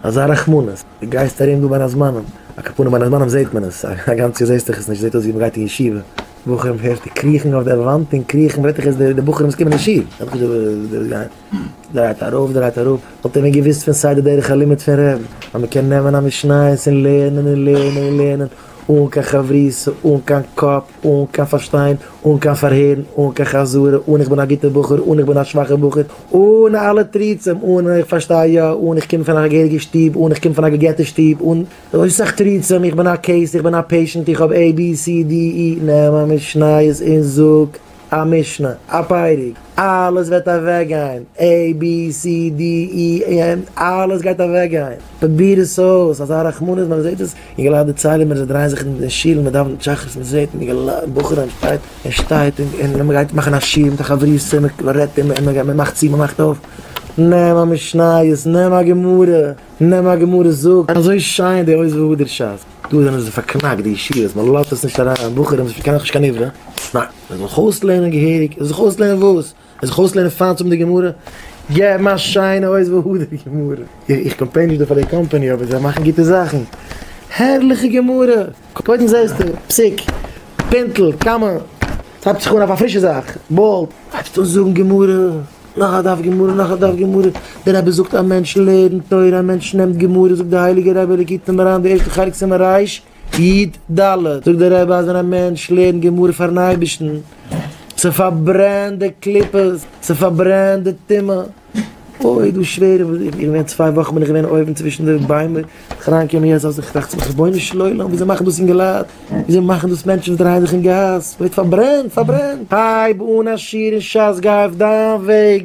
אזא רחמנות, דו גייסט ארום דא בין הזמנים, א קאפאנע בין הזמנים זעהט מען עס, א גאנץ יאר זעסטוך עס נישט, זעהט אויס ווי מען גייט אין ישיבה, בחורים הערסט די קריכן אויף די וואנט און קריכן, וועט דאך עס די בחורים וואס קומען אין שול, זעט אויס ווי דאס גייט, דרייט ארויף דרייט אראפ, וואלט ער ווען געוויסט פון סיי די דרך הלימוד פון רב, אז מען קען נעמען א משניות און לערנען און לערנען און לערנען, אן קיין חברותא, אן קיין קאפ, אן קיין פארשטיין, אן קיין פארהערן, אן קיין חזרה, אן איך בין א גוטער בחור, אן איך בין א שוואכער בחור, אן אלע תריצים, אן איך פארשטיי יא, אן איך קום פון א געהעריגע שטוב, אן איך קום פון א געגעטע שטוב, אן אזוי סאך תריצים, איך בין א קעיס, איך בין א פעישענט, איך האב עי בי סי די אי, נעם א משניות און זאג א משנה, א פרק, אלעס וועט אוועקגיין, עי בי סי די אי ענד, אלעס גייט אוועקגיין, פרוביר עס אויס, אזא רחמנות ווען מען זעט עס. יגעלאַ דערצײלען מיר, זײ דרײען זיך אין די שול, מע דאַװנט שחרית, מע זעט, יגעלאַ, אַ בחור שטײט, ער שטײט, און מע גײט מאַכן אַ שיעור מיט אַ חבֿריסטע, מע רעדט אים, און מע מאַכט צו, מע מאַכט אױף, נעם אַ משניות, נעם אַ גמרא, נעם אַ גמרא, זאָג, אַזױ שײן די הױז, װוּ די שײַס? דאָ זענען זײ פֿאַרקנאַקט, די ישיבֿות, מע לאָזט עס נישט אַרײַן, בחורים, זײ פֿאַרקענען דאָך נישט קײן עבֿרה, נײן, מע זאָל זיך אױסלערנען געהעריק, זיך אױסלערנען װאָס? ער זיך אויסלערנען פיין צו האבן די גמרא, געבן א שיינע אויסוואל אויף די גמרא, איך קאמפלעין נישט דא פאר די קאמפעני אבער זיי מאכן גוטע זאכן, הערליכע גמרא, קודם זעסטו פסוק, פינטל, קאמע, עס הייבט זיך אן אויף א פרישע זאך, באלד, הייבסט אן זאגן גמרא, נאך א דף גמרא, נאך א דף גמרא, דער רבי זאגט א מענטש לערנט תורה, א מענטש נעמט גמרא, זאגט די הייליגע רבי לקוטי מוהר ן די ערשטע חלק סימן רש, יד ד, זאגט דער רבי אז ווען א מענטש לערנט גמרא פארן אייבערשטן, ס'פארברענט די קליפות, ס'פארברענט די טומאה, אוי איז דאס שווער, איך בין געווען צוויי וואכן בין איך געווען אויבן צווישן די ביימער, בין איך אריינגעקומען יעצט אז איך טראכט צו מיך רבונו של עולם וויאזוי מאכן דאס אינגעלייט, וויאזוי מאכן דאס מענטשן וואס דרייען זיך אין גאס, ווערט פארברענט, פארברענט. הייב אן א שיעור אין שס, גיי אויף דיין וועג.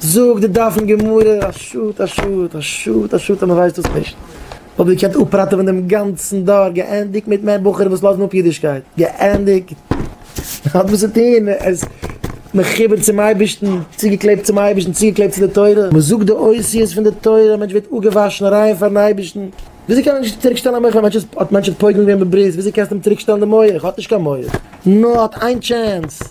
זאגט די דף אין גמרא, א שאד א שאד א שאד א שאד אז מען ווייסט דאס נישט, מען וואלט געקענט אפראטעווען דעם גאנצן דור, געענדיגט מיט מער בחורים וואס לאזן אפ אידישקייט, געענדיגט, מען האט וואס צו טון, מען איז מחובר צום אייבערשטן, צוגעקלעבט צום אייבערשטן, צוגעקלעבט צו די תורה, מען זאגט די אותיות פון די תורה, א מענטש ווערט אפגעוואשן ריין פארן אייבערשטן. וויאזוי קען מען נישט צוריק שטעלן א מח ווען האט מענטש האט פויגלען געווען בברית וויאזוי קענסטו אים צוריק שטעלן די מח האט נישט קיין מח נאר האט איין טשענס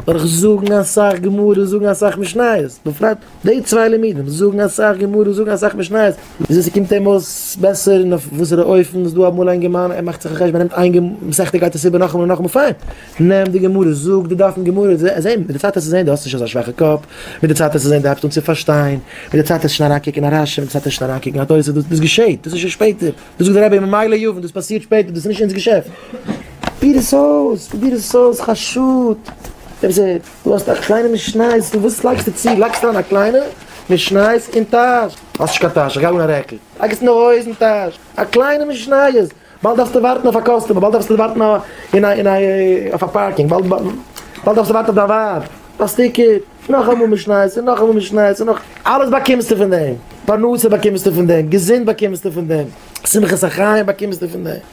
דורך זאגן אסאך גמרא זאגן אסאך משניות בפרט די צוויי לימודים זאגן אסאך גמרא זאגן אסאך משניות וויאזוי ס'קומט אים אויס בעסער און אויף וואסערע אופן איז דא אמאל אינגערמאן ער מאכט זיך א חשבון ער נעמט איין מסכתא גייט עס איבער נאכאמאל און נאכאמאל פיין. נעם די גמרא, זאג די דפים גמרא, זעהן, מיט די צייט וועסטו זעהן די האסט נישט אזא שוואכע קאפ, מיט די צייט וועסטו זעהן די הייבסט אן צו פארשטיין, מיט די צייט וועסטו שוין אריינקוקן א רשי, מיט די צייט וועסטו שוין אריינקוקן א תוס', דאס געשעהט, דאס איז שוין שפעטער, דאס זאגט די רבי ממילא יבין, דאס פאסירט שפעטער, דאס איז נישט אונז געשעפט. פיר עס אויס, פרוביר עס אויס, חשוד, רבי זי ע, דו האסט א קליינע משניות, דו וואס לייגסטו צו, לייגסט אריין א קליינע משניות אין טאש, האסט נישט קיין טאש, איך גיי אן א רעקל, לייג עס אין די הויזן טאש, א קליינע משניות. באלד דארפסטו ווארטן אויף א קאסטומער, באלד דארפסטו ווארטן אין א אין א אויף א פארקינג, באלד באלד דארפסטו ווארטן אויף דיין ווייב, ביי סטיקער, נאכאמאל משניות און נאכאמאל משניות און נאך. אלעס באקומסטו פון דעם, פרנסה באקומסטו פון דעם, געזונט באקומסטו פון דעם, שמחת החיים באקומסטו פון דעם.